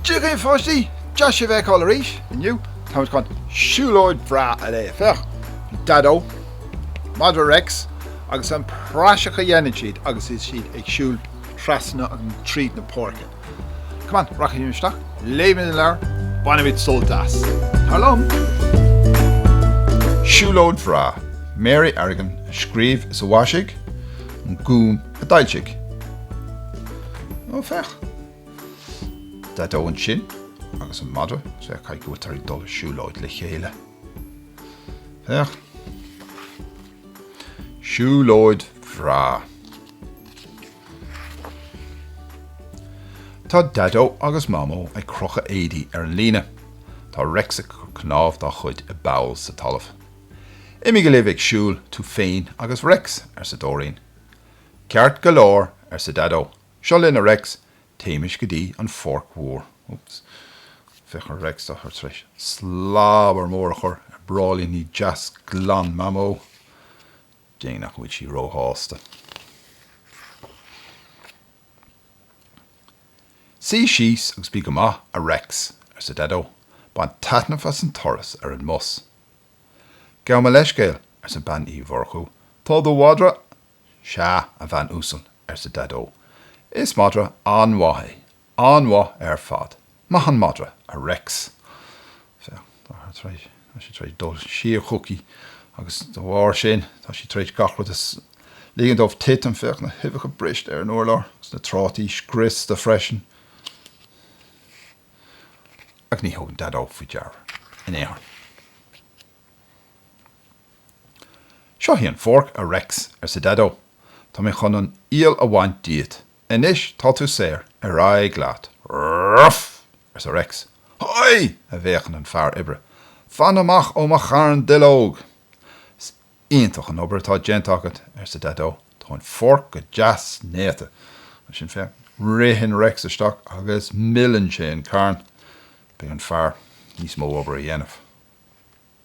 Dia dhaoibh pháistí! Deas sibh a fheiceáil arís inniu. Táimid chun siúlóid bhreá a léamh. Féach, Daideo, Madra Rex agus an praiseach a dhéanann siad agus iad ag siúl trasna agus tríd na páirce. Come on, rachaimid isteach, léimid an leabhar, bainimid sult as. Tar liom! Siúlóid bhreá. Mary Arrigan a scríobh is a mhaisigh, An Gúm a d'fhoilsigh. Ó, féach. Daideo ansin agus an madra, is féach chaoi go bhfuil siad ag dul siúlóid le chéile. Féach. Siúlóid bhreá. Tá Daideo agus Mamó ag crochadh éadaí ar an líne. Tá Rex ag cur cnámh dá chuid i bpoll sa talamh. Imígí libh ag siúl, tú féin agus Rex, arsa Dóirín. Ceart go leor, arsa Daideo. Seo linn, a Rex, téimis go dtí an pháirc mhór. Oops. Féach ar Rex, tá sé tar éis slabar mór a chur ar bráillíní deas glan Mamó. Déarfainn nach bhfuil sí róshásta, Suí síos agus bí go maith, a Rex, arsa Daideo. Bain taitneamh as an turas ar an mbus. Gabh mo leithscéal, arsa Bean Uí Mhurchú. Tá do mhadra Sea, a bhean uasal, arsa Daideo. Is madra an-mhaith é, An-mhaith ar fad. Maith an madra, a Rex. Féach, tá sé tar éis, tá sé tar éis dul suas chuici agus de bharr sin tá sí tar éis gach rud a ligean dó titim, féach na huibheacha briste ar an urlár agus na trátaí scriosta freisin. Ach ní thugann Daideo faoi deara in aon chor. Seo í an pháirc, a Rex, arsa Daideo. Tá mé chun an iall a bhaint díot Anois tá tú saor, ar aghaidh leat! Ruff! arsa Rex. Hoi! a bhéiceann an fear oibre. Fan amach ó mo charn duilleog! Is iontach an obair atá déanta agat, arsa Daideo. Tá an pháirc go deas néata. Sin féach, ritheann Rex isteach agus milleann sé an carn. Beidh an fear níos mó obair a dhéanamh.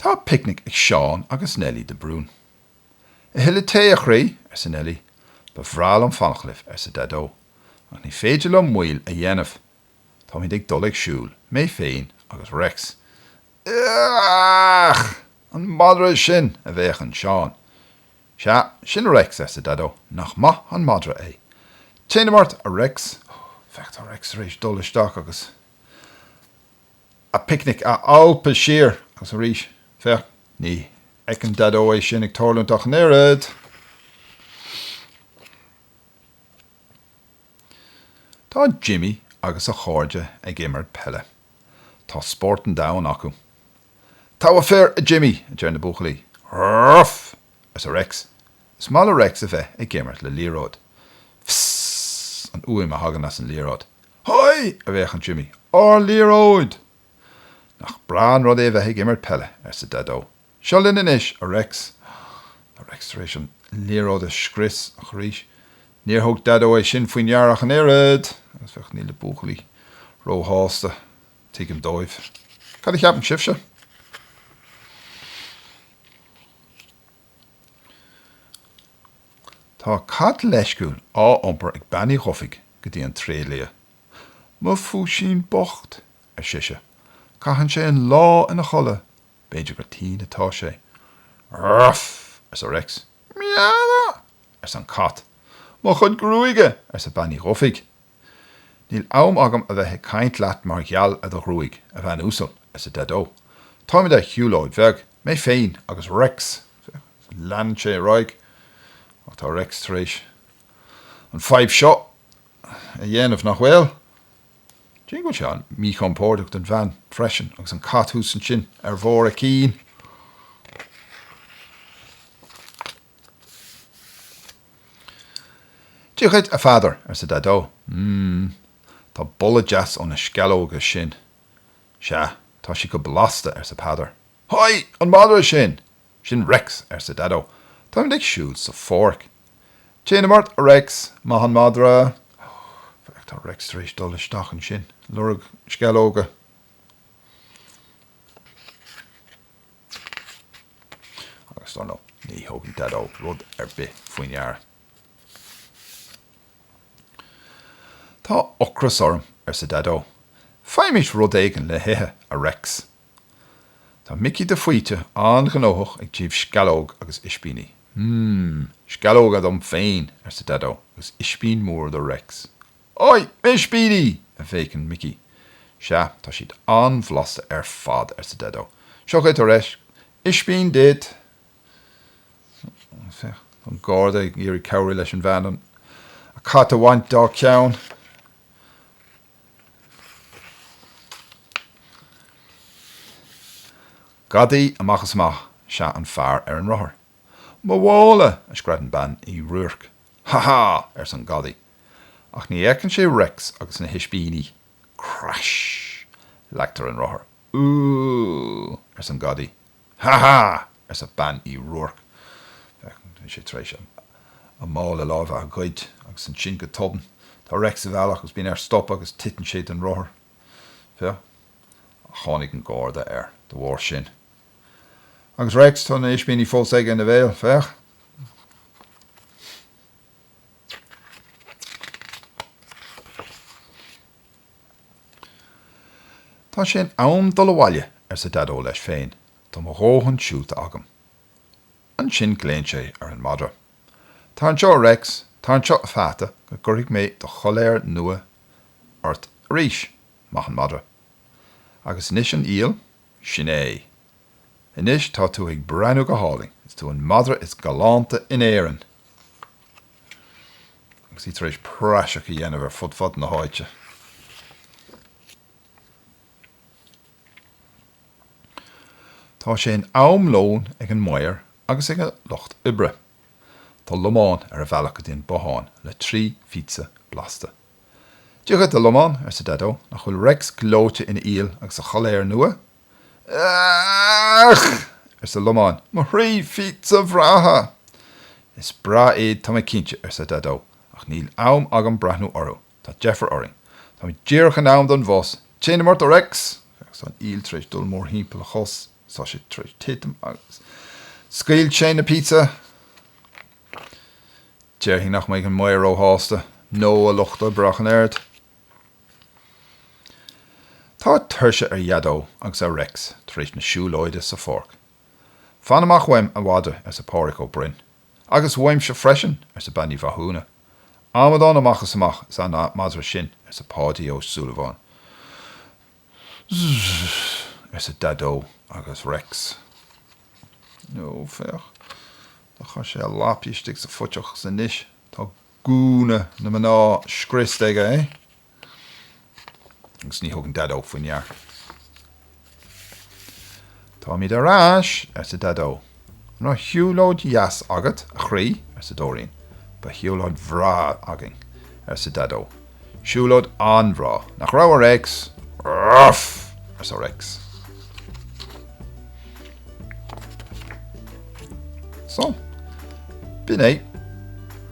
Tá picnic ag Seán agus Nellie de Brún. A thuilleadh tae, a chroí? arsa Nellie. Ba bhreá liom fanacht libh, arsa Daideo, ach ní féidir liom moill a dhéanamh. Táimid ag dul ag siúl, mé féin agus Rex. Eaach! An madra sin? a bhéiceann Seán. Sea, sin Rex, arsa Daideo. Nach maith an madra é. Téanam ort, a Rex. Féach, tá Rex tar éis dul isteach agus. a picnic a alpadh siar agus arís féach, ní fheiceann Daideo é sin ag tarlúint ach an oiread. Tá Jimmy agus a chairde ag imirt peile. Tá spórt an domhain acu. Togha fir, a Jimmy! a deir na buachaillí. Rrrrf! Arsa Rex. Is maith le Rex a bheith ag imirt le liathróid. Fsss! an fhuaim a thagann as an liathróid. Hoi! a bhéiceann Jimmy. Ár liathróid! Nach breá an rud é a bheith ag imirt peile, arsa Daideo. Seo linn anois, a Rex! Tá Rex tar éis an liathróid a scrios, ach arís, níor thug Daideo é sin faoi ndeara ach an oiread! Agus féach, níl na buachaillí ró-shásta. Tuigim dóibh. Cad a cheapann sibhse? Tá cat leisciúil á iompar ag Bean Uí Dhufaigh go dtí an tréidlia. Mo phúisín bocht! ar sise. Caitheann sé an lá ina chodladh, b'fhéidir gur tinn atá sé. Ruff! arsa Rex. Meow! arsa an cat. Mo chuid gruaige! arsa Bean Uí Dhufaigh. Níl am agam a bheith ag caint leat mar gheall ar do ghruaig, a bhean uasal, arsa Daideo. Táimid ar shiúlóid bhreá, mé féin agus Rex. Leanann sé ar aghaidh, Ach tá Rex tar éis an fhadhb seo a dhéanamh, nach bhfuil? Cé go bhfuil sé an-mhíchompordach don bhean freisin agus an cat thuas ansin ar bharr a cinn. Dia dhuit, a Pheadar, arsa Daideo. Mmm, tá boladh deas ó na sceallóga sin. Sea, tá siad go blasta, arsa Peadar. Hoi, an madra sin! Sin Rex, arsa Daideo. Táimid ag siúl sa pháirc. Téanam ort, a Rex! Maith an madra! Féach, tá Rex tar éis dul isteach ansin, lorg sceallóga. Agus dar ndóigh, ní thugann Daideo rud ar bith faoi ndeara. Tá ocras orm, arsa Daideo. Faighimis rud éigin le hithe, a Rex. Tá Micí de Faoite an-ghnóthach ag díol sceallóg agus ispíní. Hmm, sceallóga dom féin, arsa Daideo, agus ispín mór do Rex. Ói! Ispíní! a bhéiceann Micí. Sea, tá siad an-bhlasta ar fad, arsa Daideo. Seo dhuit, a Rex, ispín duit! Tá an Garda ag iarraidh cabhrú leis an mbean an cat a bhaint dá ceann. Gadaí amach is amach is ea an fear ar an rothar. Mo mhála! a scread an Bean Uí Ruairc. Ha ha! arsa an Gadaí. Ach ní fheiceann sé Rex agus na hispíní. Crash! Leagtar an rothar. Ooh! arsa an Gadaí. Ha ha! arsa Bean Uí Ruairc. Tá sé tar éis a mála láimhe a ghoid agus ansin go tobann. Tá Rex sa bhealach agus bíonn air stop agus titeann sé den rothar. Bhuel. Ach tháinig an Garda air de bharr sin. Agus Rex, tá na ispíní fós aige ina bhéal. Féach. Tá sé in am dul abhaile, arsa Daideo leis féin, tá mo dhóthain siúlta agam. Ansin glaonn sé ar an madra. Tar anseo, a Rex, tar anseo, a pheata, go gcuirfidh mé do choiléar nua ort arís. Maith an madra. Agus anois an iall? Sin é. Anois tá tú ag breathnú go hálainn. Is tú an madra is galánta in Éirinn! Agus é tar éis praiseach a dhéanamh ar fud fad na háite. Tá sé in am lóin ag an maor agus ag a lucht oibre. Tá Lomán ar a bhealach go dtí an bothán le trí phíotsa blasta. Dia dhuit, a Lomáin, arsa Daideo, nach bhfuil Rex gleoite ina iall agus a choiléar nua? Each! arsa Lomán, mo thrí phíotsa bhreátha! Is breá iad, tá mé cinnte, arsa Daideo, ach níl am agam breathnú orthu. Tá deifir orainn. Táimid díreach in am don bhus. Téanam ort, a Rex! Agus tá an iall tar éis dul mórthimpeall a chos is tá sé tar éis titim agus scaoil sé na píotsa. Déarfainn nach mbeidh an maor róshásta nó a lucht oibre ach an oiread. Tá tuirse ar Dhaideo agus ar Rex tar éis na siúlóide sa pháirc. Fan amach uaim a mhadra, arsa Pádraig Ó Broin. Agus uaimse freisin, arsa Bean Uí Mhathúna. Amadán amach is amach is ea an madra sin, arsa Páidí Ó Súilleabháin. Zzzzz! arsa Daideo agus Rex. Ó, féach, do chuir sé a lapaí istigh sa phuiteach agus anois tá gúna na mná scriosta aige! Agus ní thugann Daideo faoi ndeara. Táimid ar ais! arsa Daideo. An raibh siúlóid dheas agat, a chroí? arsa Dóirín. Bhí siúlóid bhreá againn! arsa Daideo. Siúlóid an-bhreá, nach raibh, a Réics? Uff! arsa Réics. So, b'in é.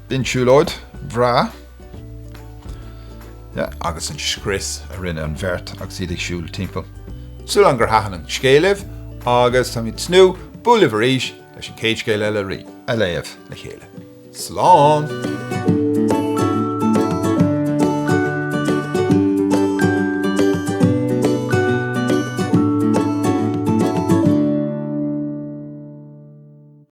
B'in siúlóid bhreá. agus an scrios a rinne an bheirt agus iad ag siúl timpeall. Súil againn gur thaitin an scéal libh agus táimid ag tnúth bualadh libh arís leis an gcéad scéal eile a léamh le chéile. Slán!